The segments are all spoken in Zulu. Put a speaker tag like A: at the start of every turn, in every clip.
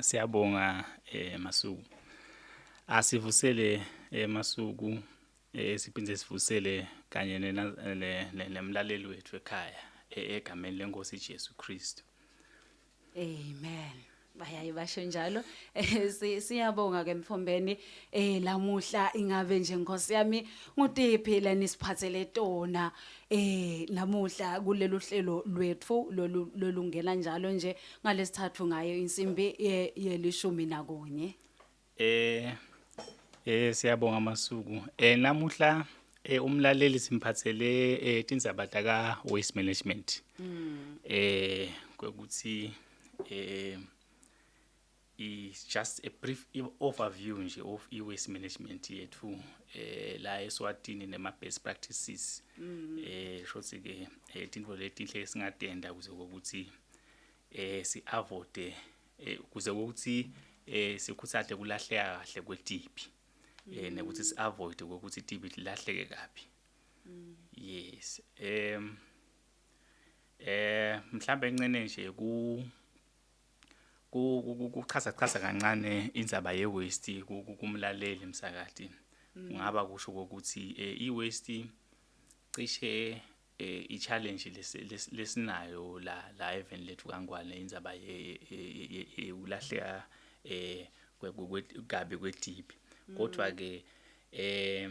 A: Siyabonga eh Masuku. Asivusele eh Masuku eh siphinde sivusele kanye nemlaleli wethu ekhaya eh, egameni lenkosi Jesu Kristu.
B: Amen. bayaye basho njalo eh, siyabonga ke mfombeni eh lamuhla ingabe nje nkosi yami ngutiphi lani siphathele tona Eh namuhla kulelu hlelo lwethu lolu- lolungena njalo nje ngalesithathu ngayo insimbi ye- yelishumi nakunye. Eh
A: eh siyabonga masuku. Eh namuhla eh umlaleli simphathele eh tindzaba taka waste management. Eh ukuthi eh is just a brief overview nje of i-waste management yethu eh la eSwatini nema-best practices mm. eh shothi ke eh, into letinhle esingatenda kuze ukuthi eh si-avoide eh, kuze ukuthi eh sikhuthale kulahleka kahle kwetipi eh mm. nekuthi si-avoide ukuthi itipi lilahleke kabi mm. yes em eh mhlambe encane nje ku kuchaza chaza kancane indzaba ye waste kumlaleli msakati mm. kungaba kusho ukuthi eh, i waste cishe eh, i challenge lesinayo la la event lethu kangwane indzaba ye ulahleka eh kwekugabe kwedibi mm. kodwa ke eh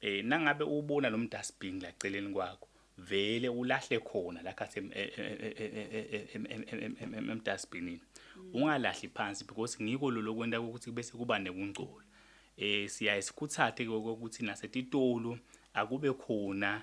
A: Eh nangabe ubona lo mdustbin la celeni kwakho vele ulahle khona la khathi emdustbinini ungalahli phansi because ngiko lo lokwenta ukuthi bese kuba nekungcola eh siyaye sikhuthathe ukuthi nasetitolo akube khona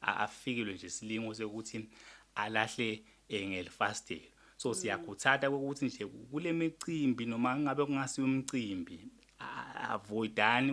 A: afikilwe nje silingo sokuthi alahle eh, ngelifastelo so mm. siyakhuthata ukuthi nje kule micimbi noma ngabe kungasiyo umcimbi avoidani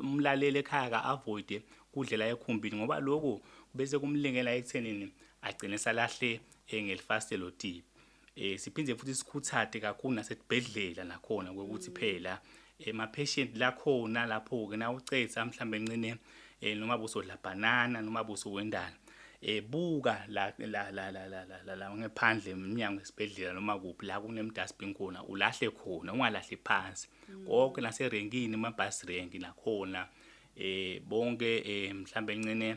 A: umlaleli ekhaya ka-avoide kudlela ekhumbini ngoba lokhu bese kumlingela ekuthenini agcine salahle eh, ngelifastelo tipi Eh siphinde futhi sikhuthate kakhulu nasesibhedlela nakhona ukuthi mm. phela ema eh, patient la khona lapho ke na ucetha mhlambe encine eh, noma busodla banana noma busowendana ebuka la la la la la la la ngephandle eminyango esibhedlela noma kuphi la kunemdustbin khona ulahle khona ungalahli phansi mm. konke naserenkini ama bus rank nakhona eh bonke eh mhlambe encene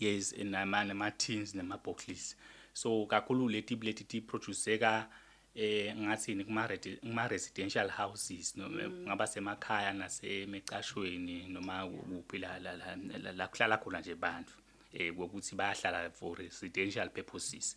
A: yes nama nama tins nama boxes so kakhulu leti buleti ti produceka eh ngathini kuma kuma residential houses noma mm. ngaba semakhaya nasemicashweni noma kuphi la la la kuhlala khona nje abantu eh ukuthi bayahlala for residential purposes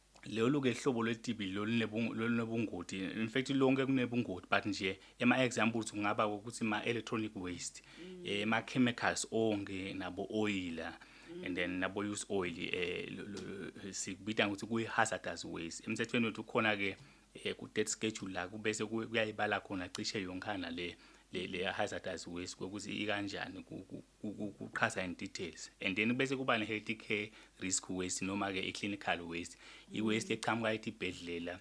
A: lolu ke hlobo lwetibi lolunobungoti in fact lonke kunebungoti but nje ema-examples kungaba ukuthi ma-electronic waste mm. eh, ma-chemicals onke nabo oyila mm. and then nabo use oil eh sikubita ukuthi kuyi hazardous waste emthethweni wethu khona ke eh, ku debt schedule la kubese kuyayibala khona cishe yonkana le le hazardous waste ukuthi ikanjani ukuchaza in details and then bese kuba ne-health care risk waste noma-ke i-clinical waste i-waste eqhamuka ethi ibhedlela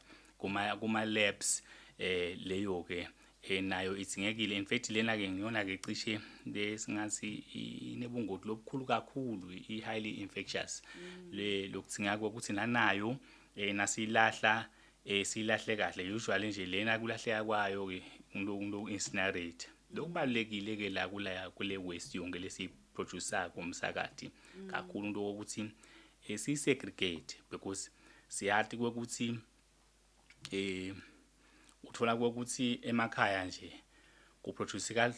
A: kuma-labs um eh, leyo-ke um nayo idingekile in fact lena-ke ngiyona-ke cishe besingathi inebungoti lobukhulu kakhulu i-highly infectious mm. lokudingeka kokuthi nanayo um nasiyilahla eh silahle kahle usually nje lena kulahleka kwayo ke umuntu incinerate lokubalekile ke la kula kule waste yonke lesi producer komsakathi mm. kakhulu into ukuthi eh, si segregate because siyathi ukuthi eh uthola ukuthi emakhaya nje kuproduce ka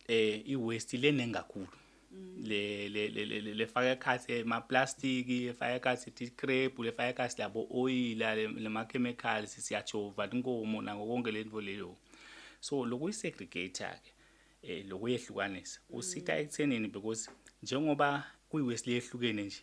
A: eh iwaste lene ngakhulu mm. le le le le faka ekhathi eh, ma plastic efaka ekhathi ti crepe le faka ekhathi labo oil le ma chemicals siyachova inkomo nako konke lento leyo so lokuyi segregator ke eh lokuyehlukanisa usitha mm. ekuthenini because njengoba kuyiwaste lehlukene nje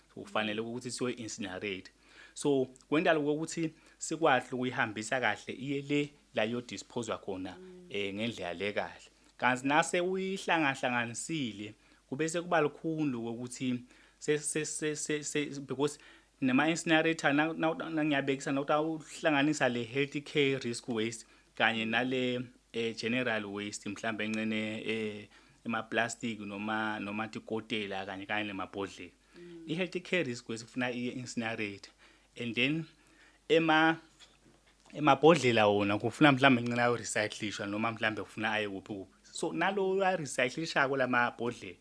A: kufanele ukuthi siyo incinerate so kwendala ukuthi sikwahle ukuyihambisa kahle iye le la yo dispose khona eh ngendlela le kahle kanti nase uyihlangahlanganisile kube sekuba lukhulu ukuthi se se se se because nema incinerator nangiyabekisa nokuthi awuhlanganisa le healthy care risk waste kanye nale eh, general waste mhlawumbe encene eh, emaplastic noma noma tikotela kanye kanye nemabhodlela mm. i-healthy care risk kwesifuna i-incinerate and then ema emabhodlela wona kufuna mhlawumbe encane ayorecyclishwa noma mhlawumbe kufuna aye kuphi kuphi so naloyo arecyclishako lamabhodlela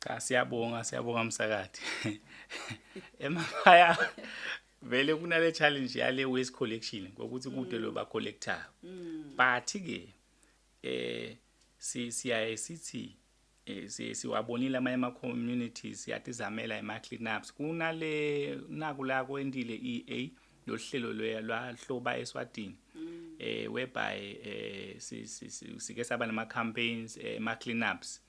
B: Cha
A: siyabonga siyabonga msakathi. Emakhaya vele kunale challenge yale waste collection ukuthi kude mm. lo ba collector. Mm. But ke eh si siyaye sithi eh, siwabonile amanye ama communities yatizamela ema clean ups kunale naku la kwendile EA lohlelo lwahloba eswatini mm. eh whereby eh sike saba nama campaigns eh, ema clean ups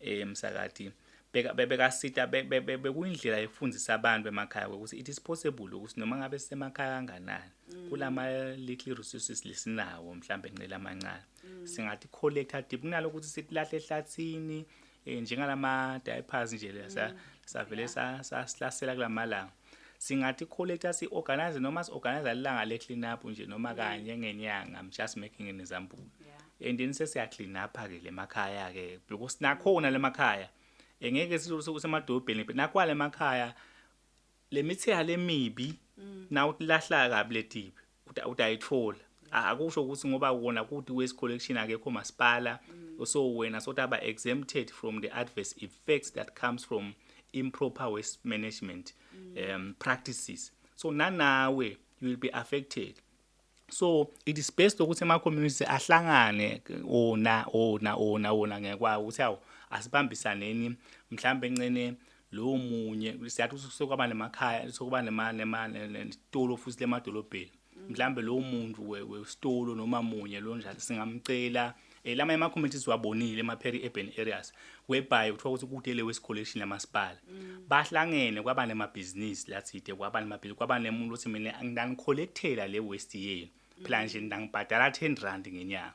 A: eh msakati beka bebekasita bekuyindlela yokufundisa abantu emakhaya ukuthi it is possible ukuthi noma ngabe sisemakhaya kanganani mm. kulama little resources lesinawo mhlambe ncela amancane mm. singathi collector deep kunalo ukuthi silahle ehlathini eh, njengalama diapers nje lesa mm. savele sasihlasela kulamalanga singathi kholetha si-organize noma si-organize lilanga le-clean up nje noma mm. kanye ngenyanga i'm just making an example yeah. and then sesiya-clean up-ke le makhaya-ke because nakhona le makhaya engeke semadolobheni nakwa le makhaya le mithiya lemibi mm. nawu lahlaka kabi letibi ukuthi ayithola akusho ukuthi ngoba wona kuthi waste collection akekho masipala mm. so wena sort aba exempted from the adverse effects that comes from improper waste management mm. um, practices so nanawe you will be affected so it is best ukuthi ama community ahlangane ona ona ona ona ngekwawo ukuthi awu asibambisaneni mhlawumbe encene lowo munye siyathi usuke kwaba nemakhaya usuke kwaba nema nema nesitolo futhi lemadolobheni mm. mhlambe lowo muntu wesitolo noma munye lo njalo singamcela eh, lama ema communities wabonile ema peri urban areas whereby kuthiwa ukuthi kude le waste collection yamasipala mm. bahlangene kwaba nema business lathide kwaba nema business kwaba nemuntu othi mina ngidangicollectela le waste yenu phela nje ngidangibhadala 10 rand ngenyanga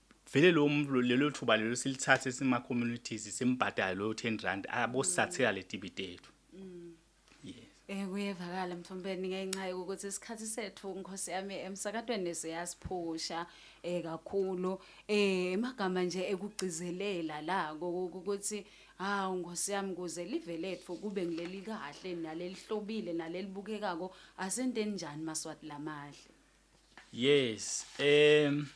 A: vele lo muntu lelo thuba lelo silithathe sima communities simbhadale lo 10 rand abosathela letibite yethu mm. yes eh
B: kuyevakala mthombeni ngenxa yokuthi isikhathi sethu nkosi yami emsakatweni siyasiphusha eh kakhulu eh emagama nje ekugcizelela la ukuthi hawu nkosi yami kuze live lethu kube ngileli kahle nalelihlobile nalelibukekako asenteni njani maswati lamahle yes
A: um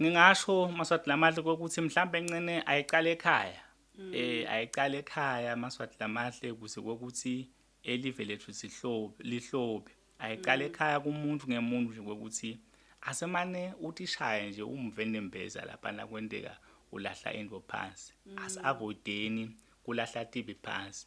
A: ngingasho maswati lamahle kokuthi mhlawumbe encane ayiqale ekhaya um ayiqale ekhaya maswati lamahle kuze kokuthi elive lethu sihlobe lihlobe ayiqale mm. ekhaya kumuntu ngemuntu nje kokuthi asemane utishaye nje umve nembeza lapha nakwenteka ulahla into phansi mm. asiavoideni kulahla tibi phansi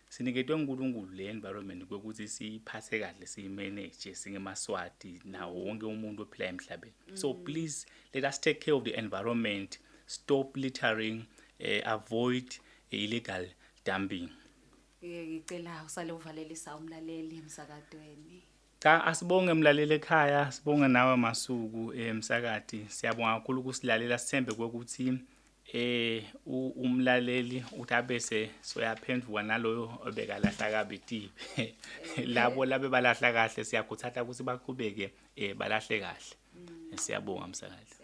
A: siniketwe uNkulunkulu le environment kokuthi siyiphathe kahle siyimanage singemaswati nawo wonke umuntu ophila emhlabeni mm. so please let us take care of the environment stop littering uh, avoid illegal dumping ngicela
B: usale uvalelisa umlaleli emsakadweni Cha asibonge
A: mlaleli ekhaya, sibonge nawe Masuku emsakati. Eh, Siyabonga kakhulu ukusilalela sithembe ukuthi eh umlaleli uthi abese soyaphendvuka naloyo obekalahla kabi tipe labo labe balahla kahle siyakhuthatha ukuthi baqhubeke eh balahle kahle mm. siyabonga msakazi